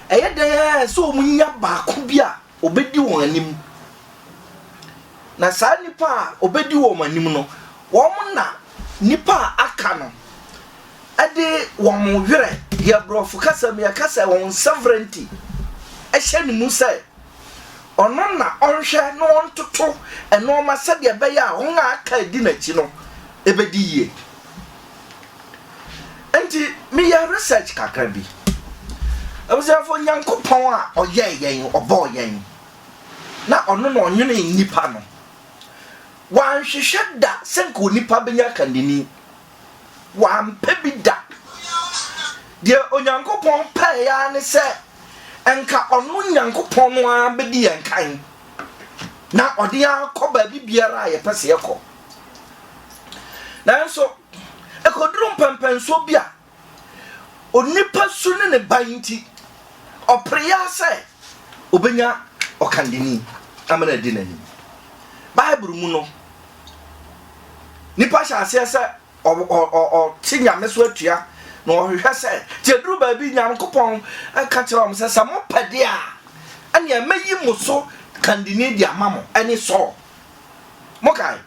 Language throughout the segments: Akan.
ɛyɛ dɛ ara sɛ wɔnya baako bi a ɔbɛdi wɔn anim na saa nipa a ɔbɛdi wɔn anim no wɔn na nipa a aka no ɛde wɔn werɛ yɛ borɔfo kasa mu yɛka sɛ wɔn sovereignty ɛhyɛ ne mu sɛ Ɔno na ɔnhwɛ na ɔntoto nnoɔma sɛdeɛ ɛbɛyɛ a wɔn a aka adi n'akyi no bɛdi yie. Enti meyɛɛ research kakra bi. Abusuafoɔ, Nyankopɔn a ɔyɛɛ yɛn, ɔbɔɔ yɛn, na ɔno na ɔnwenee nnipa no, wanhwehwɛ da sɛ nka onipa bɛnya kandini. Wampɛ bi da. Deɛ Onyankopɔn pɛeɛ ara ne sɛ anka ɔno Nyankopɔn no ara bɛdi yɛn kan na ɔde yɛn akɔ baabi biara a yɛpɛ sɛ yɛkɔ. Nanso, ɛkɔduru mpɛmpɛnsoɔ bi a, onipa su ne ne ban nti, ɔpere yɛ sɛ ɔbɛnya ɔkandani amena di n'anim. Bible mu no, nipa hyɛ aseɛ sɛ ɔte nyame so atua na ɔhwehwɛ sɛ nti aduru baabi nyankopɔn ka kyerɛ wɔn sɛ sɛ mopɛ deɛ a ɛneɛ mɛyi mo so kandini de ama mo ɛne sɔɔ mokae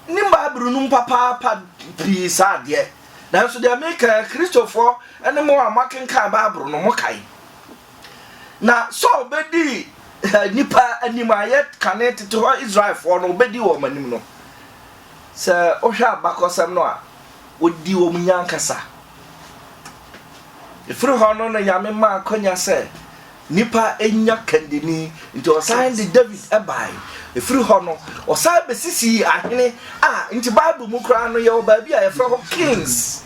ne bible no mu papaapa pii saa adeɛ nanso deɛ meka kristofoɔ ne mo a moakenkan bible no mokae Na Saul bɛdii nnipa anim a yɛ kane tete hɔ Israelfoɔ no, ɔbɛdi wɔn anim no, sɛ wohwɛ abakɔsɛm no a, ɔdi wɔn nya ankasa. Ɛfiri hɔ no na Nyame ma akwanya sɛ nnipa nya kandini Nti ɔsan de Dawid bae. Ɛfiri hɔ no, ɔsan bɛsisii ahene a nti Bible mu koraa no yɛwɔ baabi a yɛfrɛ hɔ kings.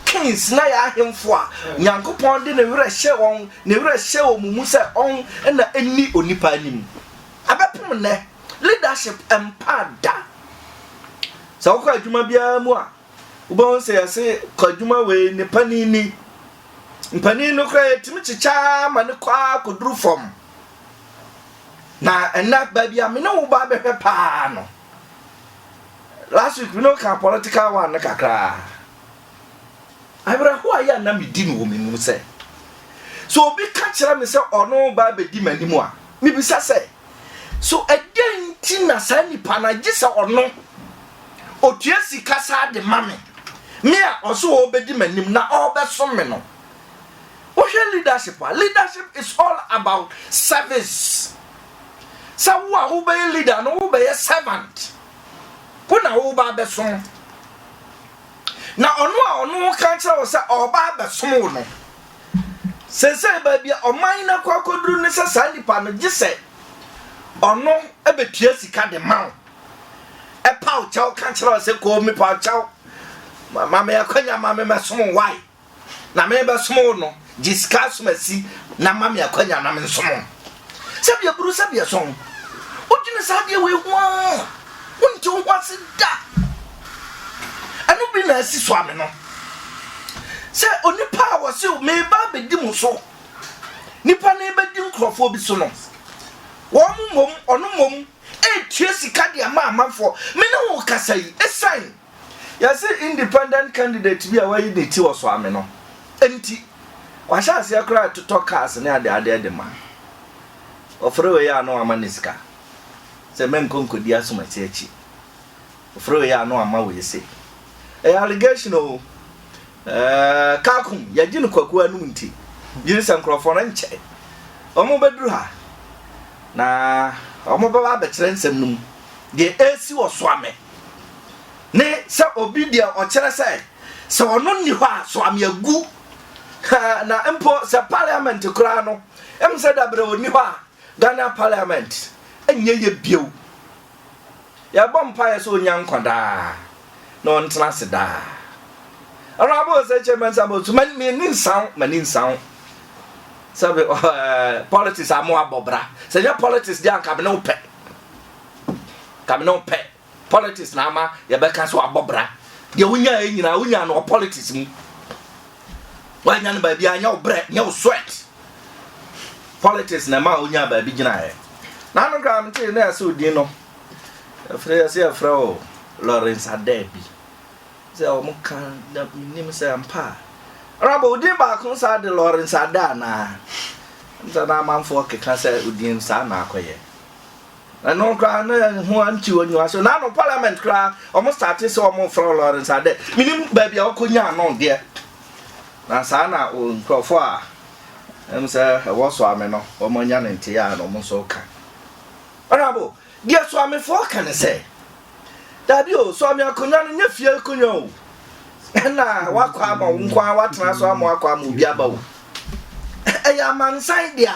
Kings na yɛ ahemfo a Nyankopɔn de ne werɛ hyɛ wɔn, ne werɛ hyɛ wɔn mu sɛ ɔn na ɛnni onipa anim. Ɛbɛpem nnɛ, leadership mpa da. Sɛ wokɔ adwuma biara mu a, wobɛhu sɛ yɛse kɔ adwuma wei ne panin ni. Mpanin no koraa yɛtumi kyekyaa ma no kɔ ara kɔduru fam. Na ɛnɛ baabi a me ne wo ba bɛhwɛ paa no, last week me ne wo ka political one no kakraa. Awerɛhoɔ a yɛ a na medi no wɔ me mu sɛ, sɛ obi ka kyerɛ me sɛ ɔno ba bɛdi m'anim a, mebisa sɛ, So ɛdɛn nti na saa nipa no agye sɛ ɔno otua sika saa de ma me me a ɔso ɔbɛdi m'anim na ɔbɛsom me no wohwɛ leadership a leadership is all about service sɛ wo a wobɛyɛ leader no wobɛyɛ servant wo na woba abɛsom na ɔno a ɔno ka kyerɛ wo sɛ ɔba abɛsom wo no Seesei baabi a ɔman no akɔ akɔduru ne sɛ saa nipa no gye sɛ ɔno bɛtua sika de ma wo. Ɛpa wo kyɛw ka kyerɛ wo sɛ kɔɔ mepa wo kyɛw ma me akwanya ma me mɛsom wae na mebɛsom wo no gye sika asomasi na ma me akwanya na mensom Sɛbea buru sɛbea sɔn. Wodwene saa adeɛ wei ho a, wonte wo ho ase da. Ɛno bi na asi so ame no. Sɛ onipa a wɔse meba abɛdi mo so, nipa no bɛdi nkurɔfoɔ bi so no, wɔn mmom, ɔno mmom, ɛretua sika de ama amanfoɔ. Me ne wo kasa yi, ɛsiane Yɛse independent candidate bi a wayi ne ti wɔ Soame no nti wahyɛ aseɛ koraa retotɔ cars ne adeadeɛ de ma. Ɔfrɛ wei a na wama no sika sɛ menkɔ nkɔdi asomasi akyi. Ɔfrɛ wei a na wama wei sei. Ɛyɛ allegation o. Ɛɛɛɛ Kaakum yɛgye no kwaku anum nti gyiri sɛ nkorɔfoɔ no nkyɛ ɔmo bɛduru ha na ɔmo bɛba abɛkyerɛ nsɛm no mu deɛ ɛresi wɔ Soame ne sɛ obi deɛ ɔkyerɛ sɛ sɛ ɔno nni hɔ a Soame agu haa na mpo sɛ parliament koraa no ɛm sɛ dabrɛ ɔni hɔ a Ghana parliament ɛnyɛ yɛ bio Yɛbɔ mpaeɛ sɛ ɔnya nkwa daa na ɔntena ase daa. Awuraba ɔsɛ kyɛ mɛ nsa bɔ so mɛ mɛ ni nsaw mɛ ni nsaw sɛbi ɛɛ politics amu abɔ bra sɛ nyɛ politics di anka mene pɛ kamene pɛ politics na ama yɛbɛka so abɔ bra deɛ wonya yɛ nyinaa wonya no wɔ politics mu. Wannya no baabi a nyɛ wo brɛ, nyɛ wo sweat. Politics na ɛma onyaa baabi gyinaeɛ. Na ano koraa no tee na yɛsɛ odin no. Ɛfrɛ yɛsɛ yɛfrɛ o Lawrence Adaabi. Sɛ wɔn ka na menim sɛ ampa a. Ɛna bɔ odin baako saa de Lawrence Ada anaa. Ɛna na amanfoɔ keka sɛ odin saa na akɔyɛ. Ɛno koraa na ho antew anyiwa so. Na no parliament koraa wɔn starte sɛ wɔn frɛ Lawrence adɛ. Menim baabi a ɔkɔ nyaa no deɛ. Na saa na nkurɔfoɔ a ɛm sɛ ɛwɔ Soame no wɔn anya ne nteɛ a na wɔn nso ka. Honorable, deɛ Soamefoɔ ka ne sɛ, daabi o, Soame akonnwa no nyɛ fie akonnwa o. Ɛna wakɔ ama wo nko ara watena so ama wakɔ ama obi aba o. Ɛyɛ amansan dea.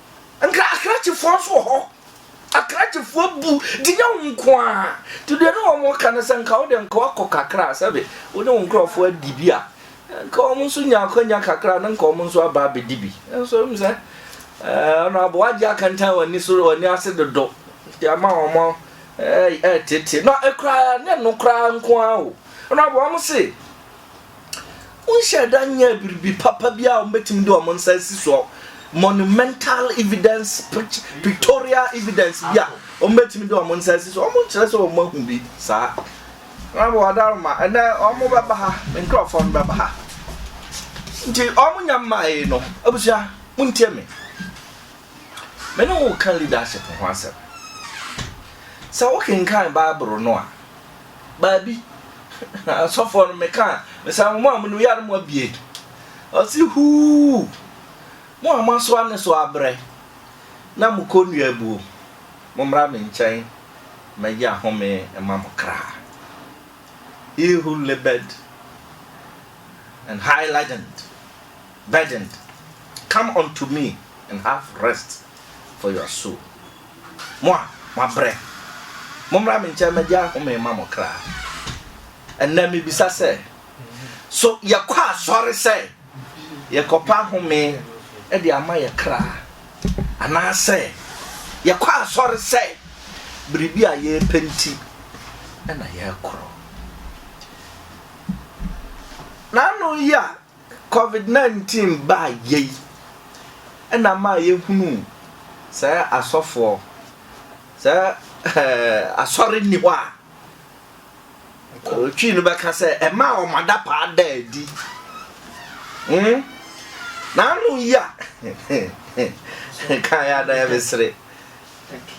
Nka akrakyefoɔ nso wɔ hɔ. Akrakyefoɔ bu de nyɛ wo nko a. Nti deɛ ne wɔn ka no sɛ nka wo deɛ nka wakɔ kakra a sɛbe wo ne wo nkurɔfoɔ adi bi a nka wɔn nso nya akwanya kakra na nka wɔn nso aba abɛdi bi. Nso m sɛ ɔno aboa agye akantan wɔn ani so wɔn ani ase dodo nti ama wɔn ɛɛtete. Na ɛkura ne no koraa nko ara o. Ɔno aboa wɔn se Wonhyɛɛ da nyɛɛ biribi papa bi a wɔbɛtumi de wɔn nsa asi soɔ, monumental evidence, pictorial evidence bi a wɔbɛtumi de wɔn nsa asi soɔ. Wɔnkyerɛ sɛ wɔn ahu bi saa. Wɔabɔ adaroma, ɛnɛ wɔn bɛba ha, me nkurɔfoɔ no bɛba ha. Nti wɔn nya mmae no, abusua, montie me. Me ne wo ka leadership ho asɛm. Sɛ wokenkan Bible no a, baabi asɔfoɔ no meka a mesa mo a monim yare mo abie ɔse huu mo a moasoa ne so abrɛ na mokɔ nnua abuo mommra me nkyɛn mɛyɛ ahome ma mo kra he who labored and high ladened burdened come unto me and have rest for your soul Mo a moabrɛ, mommra me nkyɛn mmɛgye ahome mma mo kra. Ɛnnɛ mibisa sɛ, so yɛkɔ asɔre sɛ yɛkɔpɛ ahome de ama yɛ kra? Anaasɛ yɛkɔ asɔre sɛ biribi a yɛrepɛ nti na yɛrekɔ? N'ano yi a Covid nineteen baa yɛ yi ɛna maa yɛ hunuu sɛ asɔfoɔ sɛ asɔre nni hɔ a Twii no bɛka sɛ ɛmaa wɔn adapaa daa adi hmm? na ano yi a kan yɛ adan mesere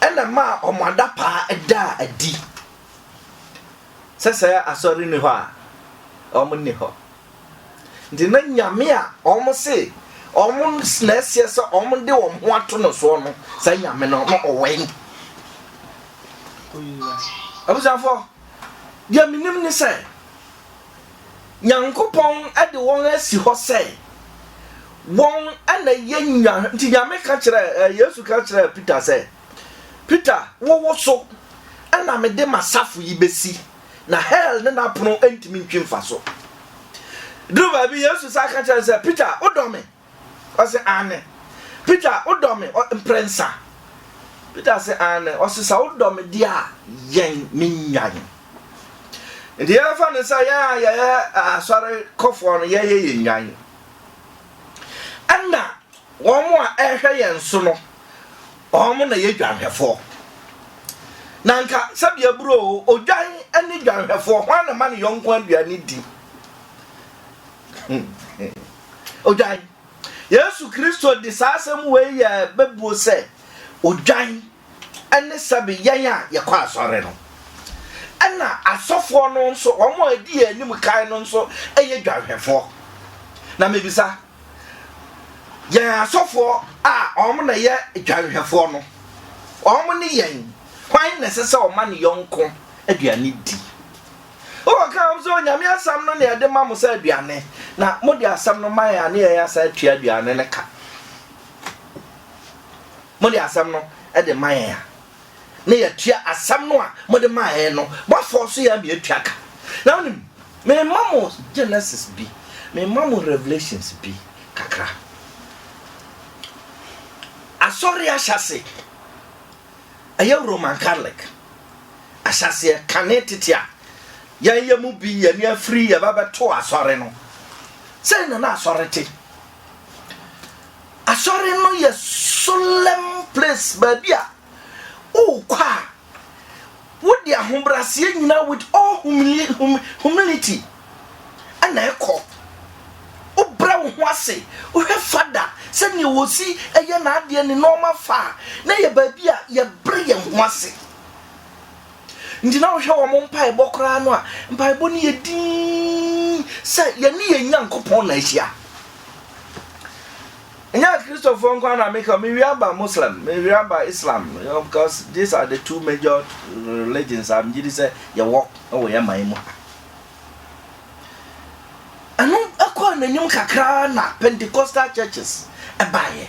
ɛna maa wɔn adapaa daa adi sɛ sɛ asɔre nni hɔ a wɔn nni hɔ Nti na Nyame a wɔn se wɔn na ɛseɛ sɛ wɔn de wɔn ho ato no soɔ no, saa Nyame no, na ɔwɔ he? Abusuafoɔ, deɛ menim ne sɛ, Nyankopɔn de wɔn asi hɔ sɛ, wɔn na yɛ nya, nti Nyame ka kyerɛ, eh, Yesu ka kyerɛ Peter sɛ, Peter, wowo so, ɛna mede m'asafo yi bɛsi. na hell ne n'apono ntumi ntwe mfa so. Duru baabi Yesu sa ka kyerɛ sɛ, Peter, wodɔ me? Ɔse, aane. Peter, wodɔ me? Mprɛnsa. Peter se, aane. Ɔse, sɛ wodɔ me deɛ a, yɛn me nnwan. Nti yɛmfa no sɛ yɛn a yɛyɛ asɔre kɔfoɔ no yɛyɛ yɛn nnwan. Ɛna Wɔn a ɛrehwɛ yɛn so no, wɔn na ɛyɛ dwanhwɛfoɔ. Na anka sɛdeɛ buro o, odwan ne dwanhwɛfoɔ, hwan na ma ne yɔnko aduane di? Odwan. Yesu Kristo de saa asɛm wei yɛ bɛbuo sɛ odwan ne sɛbe yɛn a yɛkɔ asɔre no. Ɛna asɔfoɔ no nso, wɔn a ɛdi yɛn anim kan no nso yɛ dwanhwɛfoɔ. Na mebisa, Yɛn asɔfoɔ a wɔn na ɛyɛ dwanhwɛfoɔ no, wɔn ne yɛn, hwan na ɛsɛ sɛ ɔma ne yɔnko aduane di? Wɔka wɔn sɛ, Onyame asɛm no na yɛde ma mo sɛ aduane, na mode asɛm no ma yɛn a ne yɛn asan atua aduane no ka. Mode asɛm no de ma yɛn a. na yɛatua asɛm no a mode maeɛ no, moafɔɔso yɛn ama yɛatua ka. Na wonim, merema mo Genesis bi, merema mo Revelations bi kakra. Asɔre ahyɛase, ɛyɛ Roman Catholic ahyɛaseɛ kane tete a yɛn yɛ mu bi, yɛne afiri yɛbɛbɛto asɔre no. Sɛn na na asɔre te? Asɔre no yɛ solemn place, baabi a wokɔ a wode ahobrɛaseɛ nyinaa with all humili hum humility ɛna ɛkɔ. Wobrɛ wo ho ase, wohwɛ fada sɛdeɛ wɔsi ɛyɛ n'adeɛ ne nneɛma fa a, na ɛyɛ baabi a yɛbrɛ yɛn ho ase. Nti na wohwɛ wɔn mpaebɔ koraa no a, mpaebɔ no yɛ dinn sɛ yɛne yɛn Nyankopɔn na ahyia. Ɛnyɛ Kristofoɔ nko na meka, mewie aba Muslim, mewie aba Islam, you know, because these are the two major religions a megye di sɛ yɛwɔ wɔ yɛn man mu ha. Ɛno ɛkɔɔ n'anim kakra na Pentecostal churches ɛbaeɛ.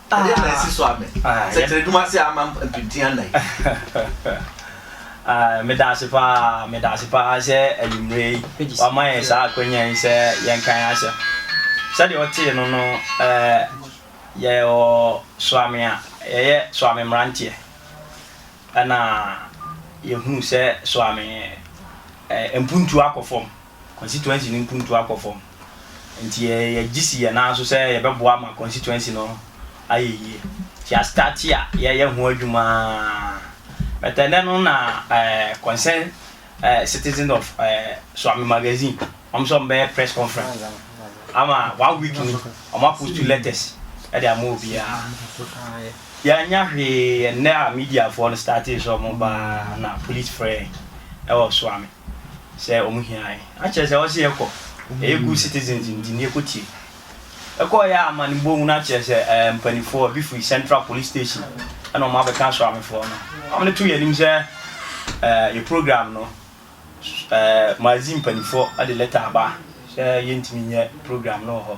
Adeɛ na asi so amɛ. Sɛkyerɛdum ase ama mpemtin anan. Medaase paa, medaase paa sɛ anwummerɛ yi wama yɛn saa akwanya yi sɛ yɛnka yɛn asɛm. Sɛdeɛ wotee no no, yɛwɔ soame a yɛyɛ soame mmeranteɛ. Ɛna yɛhunu sɛ soame mpuntuo akɔ fam. constituency no mpuntuo akɔ fam. Nti yɛgye si yɛn nan so sɛ yɛbɛboa ma constituency no ayɛ yie. Nti yɛastate a yɛreyɛ ho adwuma but ɛnnɛ no na concern citizen of Suame Magazine wɔn sɛ wɔbɛyɛ press conference ama one week ni wɔapost letters de ama obiara. Yɛannya hwee ɛnnɛ a mediafoɔ no startee sɛ wɔn ba ara na police frɛ yɛn na wɔsoa me sɛ wɔn hia yɛn. Na kyerɛ sɛ wɔse yɛkɔ, ɛyɛ good citizens nti no yɛkɔtie. Yɛkɔeɛ a amanebɔ mu na kyerɛ sɛ ɛɛ mpanifoɔ bi firi Central Police Station na wɔn abɛka asoamefoɔ no. Wɔn de too yɛn anim sɛ ɛɛ yɛn program no ɛɛ Maazi mpanifoɔ de letter aba sɛ yɛntumi nyɛ program no wɔ hɔ.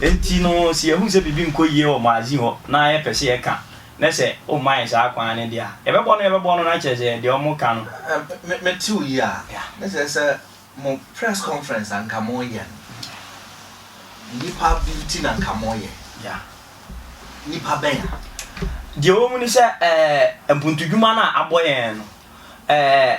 Enti no, sɛ yɛhu sɛ biribi nkɔ yie wɔ Moazi hɔ na yɛpɛ sɛ yɛka, na sɛ wɔmma yɛn saa kwan no deɛ a, yɛbɛbɔ no, yɛbɛbɔ no, na kyerɛ sɛ deɛ wɔka no. Me, mete wo yie a, na kyerɛ sɛ mo press conference a nka moreyɛ no, nnipa bi nti na nka moreyɛ. Nnipa bɛn a? Deɛ ɛwɔ mu ne sɛ, ɛɛ, mpuntudwuma no a abɔ yɛn no, ɛɛ,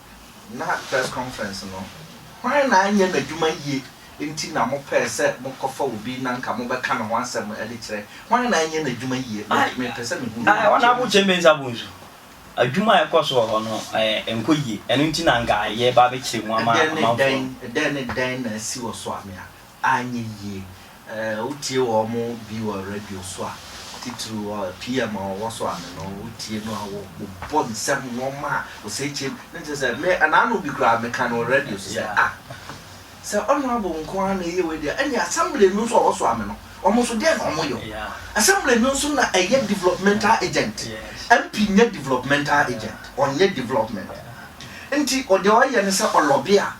Ná press conference no, hwan na anyɛ n'adwuma yie nti na mopɛɛ sɛ mokɔfa obi na anka mobɛka ne ho asɛm de kyerɛ? Hwan na anyɛ n'adwuma yie? Mepɛ sɛ mehu no. Honourable Kyei-Mensah Bonsu, adwuma a ɛkɔ so wɔ hɔ no, ɛnkɔ yie. Ɛno nti na anka yɛreba abɛkyerɛ mu ama amanfoɔ no. Ɛdɛn ne dɛn na asi wɔ Soamea? anyɛ yie. Wotie wɔn bi wɔ radio so a, titiriw PM a ɔwɔ so ano no, wotie no a wɔbobɔ nsɛm, nnoɔma a osekyem, ne kyerɛ sɛ, me naano bi koraa meka no wɔ radio so sɛ, ah, sɛ Honourable nko ara na ɛyɛ wei deɛ, ɛnneɛ Assembly no nso a ɔwɔ so ano no, wɔn nso deɛn na wɔyɛ o? Assembly no nso na ɛyɛ developmental agent, MP nyɛ developmental agent, ɔnyɛ development. Nti deɛ ɔyɛ ne sɛ ɔlɔbe a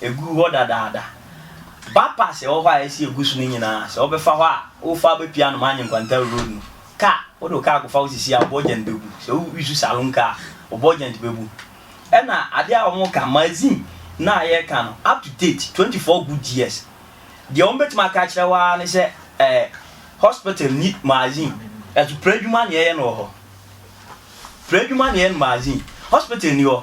Eguu hɔ dadaada. Bypass a ɛwɔ hɔ a yɛasi agu so no nyinaa, sɛ wobɛfa hɔ a, wofa bepue anom Anyen Kwantaru Road no, kaa, wode wo kaa kɔfa wo sisi a, wo bɔgyɛnt bɛbu. Sɛ wo use saloon car a, wo bɔgyɛnt bɛbu. Ɛna adeɛ a wɔka, magazine no a yɛreka no, up to date, twenty four good years. Deɛ wɔbɛtumi aka akyerɛ wo ara ne sɛ, eh, hospital nni magazine. Nanso, pra adwuma na yɛyɛ no wɔ hɔ. Pra adwuma na yɛyɛ no magazine. Hospital nni hɔ.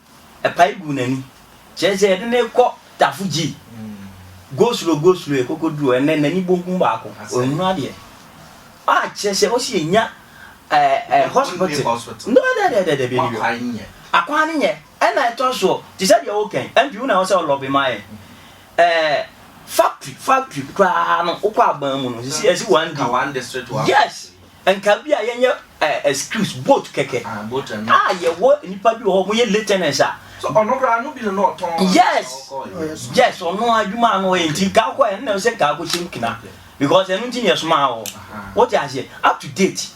Ɛpae guu n'ani. Kyerɛ sɛ yɛde no rekɔ Tafo Gyi. Go slow, go slow, yɛkɔkɔduruu hɔ, ɛnnɛ n'ani bonkum baako, ɔnhunu adeɛ. Ah, kyerɛ sɛ ɔsi yɛnya ɛɛ hospital. No, dɛdɛdɛdɛdɛ, bɛni bio. Akwan no nyɛ. Ɛna ɛtɔ soɔ, te sɛ deɛ woka yi, MP wo na ɛwɔ sɛ wo lobby ma yɛn. Ɛɛ, factory, factory koraa no, wokɔ Aban mu no, sisi ɛsi one day. Yes! Nka bi a yɛnyɛ eh, excuse, boat kɛkɛ. Ah, boat and not. Ah, yɛwɔ nipa bi wɔ hɔ, mo yɛ lieutenants a. So ɔno koraa no bi no na ɔtɔn. Yes, yes, ɔno adwuma ano ɔyɛ nti nka akɔ yɛ, ɛnna sɛ nka akɔ hyɛm kina. Because ɛno nti na yɛsomaa wɔ. Wote aseɛ, up to date.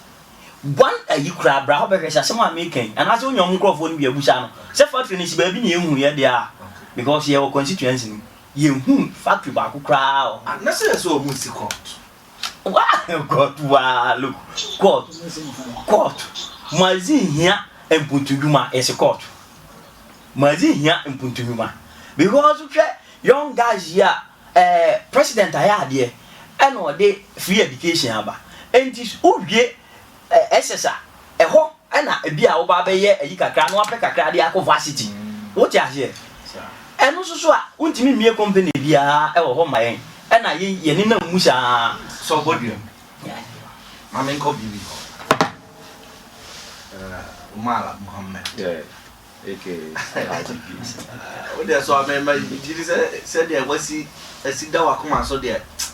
One ayi koraa bra hɔ bɛhwɛ sɛ asɛm a meka yi, anaasɛ wonya ɔmo nkorɔfoɔ no bi abusa no, sɛ factory no si baabi na yɛnhu yɛ deɛ a, because yɛwɔ constituency no mu, yɛnhu factory baako koraa wɔ hɔ. Ah, na sɛ yɛ sɛ ɔmo si court. kɔɔt waa look kɔɔt kɔɔt mazi hia mpuntudwuma yɛsi kɔɔt mazi hia mpuntudwuma because hwɛ young guys yi a ɛɛ eh, president ayɛ adeɛ ɛna ɔde free education aba nti wowie Ɛsɛ sa. Ɛhɔ na ebia woba abɛyɛ ayi kakra na woapɛ kakra de akɔ varsity. Wote aseɛ? Ɛno nso so a, wontumi mmie company biara wɔ hɔ mma yɛn. Ɛna yei yɛnenam mu saa ara. Sɛ ɔbɔ dua mu. Ma menkɔ biribi hɔ. Eh, Umar Mohammed. Yeah. Aka Alhaji P. Wo deɛ so a, me, me, megye di sɛ, sɛdeɛ wasi, asi da w'akoma so deɛ, tsk.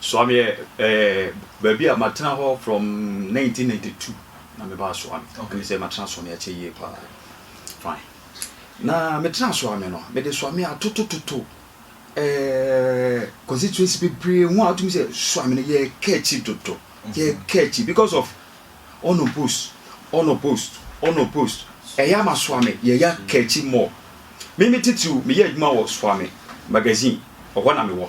Suame yɛ ɛɛ baabi a matena hɔ from 1992 na mebaa Suame. Okay. Ɛne sɛ matena Suame akyɛ yie paa. Fine. Na metena Suame no, mede Suame atotototo ɛɛ constituency bebree ho a wotumi sɛ Suame no yɛka akyi dodo. Mhm. Yɛka akyi because of ɔno post, ɔno post, ɔno post. Ɛyɛ ama Suame yɛya ka akyi more. Me me titiriw meyɛ adwuma wɔ Suame magazine, ɛhɔ na mewɔ.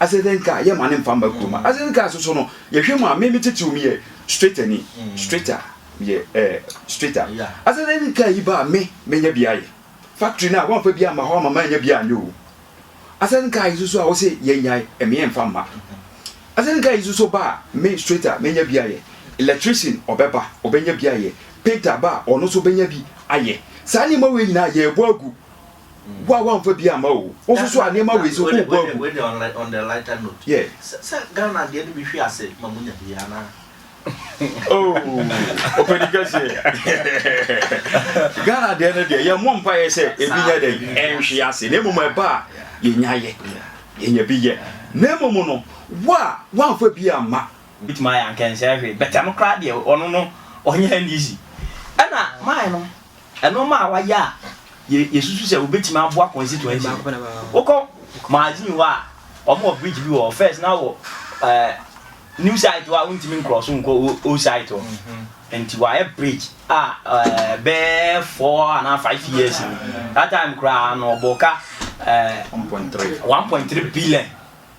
Asetenka, yɛ ma ne mfa mma kurom. Asetenka nso so no, yɛhwɛ mu a, me me titiriw meyɛ straightani, straighter, meyɛ ɛɛ straighter. Asetenka yi ba a me menya bi ayɛ. Factory no a, wɔamfa bi amma hɔ ama manya bi anyɛ o. Asetenka yi nso so a wɔse yɛnyae, ɛmeɛ mfa mma. Asetenka yi nso so ba a, me straighter menya bi ayɛ. Electrician ɔbɛba, ɔbɛnya bi ayɛ. Painter ba a, ɔno nso ɔbɛnya bi ayɛ. Saa nneɛma wei nyinaa yɛrebɔ agu wo a wamfa bi amma o wo nso so a nneɛma wei sɛ wobɔ agu wei deɛ on, on the lighter note yeah. sɛ ghana deɛ no bi hwe ase ma munya bi anaa oh ɔpɛni kɛseɛ ghana deɛ no deɛ yɛmmɔ mpaeɛ sɛ ebi nyɛ dɛ ɛnhwe ase na mmom ɛba a yɛnya yɛ yɛnya bi yɛ na mmom no wo a wamfa bi amma bitumi ayɛ ankɛnsɛ hwee bɛtɛm koraa deɛ ɔno no ɔnyɛ n'isi ɛna maa no Nnoɔma a wayɛ a yɛsusu sɛ wobɛtumi aboa constituency no, wokɔ Mazin hɔ a, wɔn wɔ bridge bi wɔ hɔ, first na wɔ eh, new site hɔ a wontumi nkorɔ so nkɔ old site hɔ, mm-hmm. nti wɔayɛ bridge a eh, bɛɛ four anaa five years that time koraa na ɔbɔ ka 1.3 eh, billion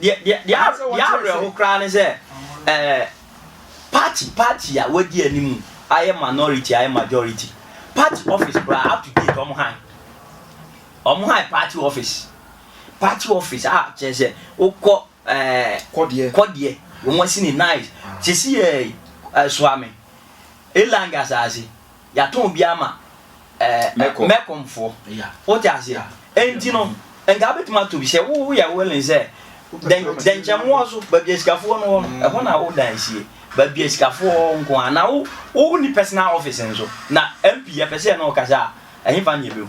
Deɛ deɛ deɛ a deɛ awerɛho koraa ne sɛ ɛɛ party party a wadi anim ayɛ minority ayɛ majority party office koraa up to date wɔn han wɔn han party office party office a kyerɛ sɛ wokɔ ɛɛ kɔdeɛ kɔdeɛ wɔn asi ne nice sisi yɛ ɛsoa me elang asaase. Yɛatɔn bi ama ɛɛ Mecom foɔ. Wote aseɛ? Enti no, nka wobɛtumi atɔ bi sɛ woyɛ willing sɛ dɛnkyɛmmoa so, baabi a sikafoɔ no wɔ no, ɛhɔ na wo dan sie. Baabi a sikafoɔ wɔ nko ara. Na wo wonni personal office nso. Na MP yɛpɛ sɛ yɛne wo kasa a, ɛhefa na yɛbɛhu?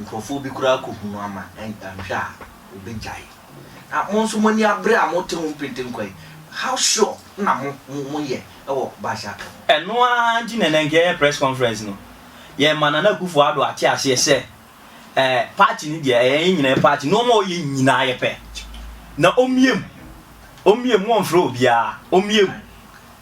Nkurɔfoɔ bi koraa kɔhunu ama anhwɛ a wɔbɛgyae. Na mo nso mo ani abere a mote ho mpentenkwa yi, how sure na mo moyɛ wɔ Baasha Aka mu? Ɛno ara nti na ɛnnɛ nka yɛyɛ press conference no, yɛma Nana Akuffo Addo ate aseɛ sɛ ɛɛ party no deɛ ɛyɛ yɛn nyinaa yɛ party, nnoɔma a ɔyɛ nyinaa yɛpɛ. Na ɔmmie mu, ɔmmie mu, wɔmfrɛ obiara, ɔmmie mu.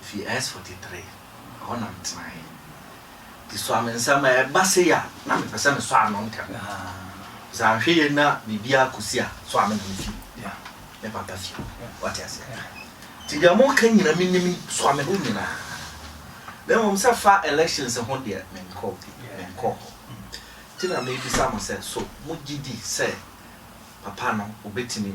Mifii S forty three, ɛhɔ na metenae. Nti soa me nsa ma ɛba sei a, na mepɛ sɛ mesɔ ano ntɛm. Sɛ anhwɛ yie na biribiara kɔsi a, soa me na mefi me papa fie hɔ. Wate aseɛ? Nti deɛ moreka nyinaa menim, soa me hɔ nyinaa. Na mmom sɛ fa elections ho deɛ, menkɔ bi, menkɔɔ hɔ. Nti na merebisa mo sɛ, so mogye di sɛ papa no ɔbɛtumi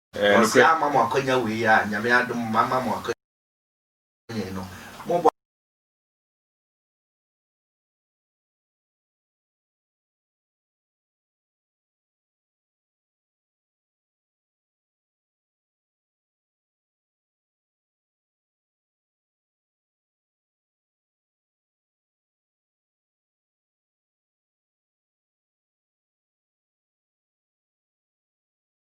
Ɔse ama mo akwanya wei a Nyame adom mama mo akwanya yi no mo bɔ.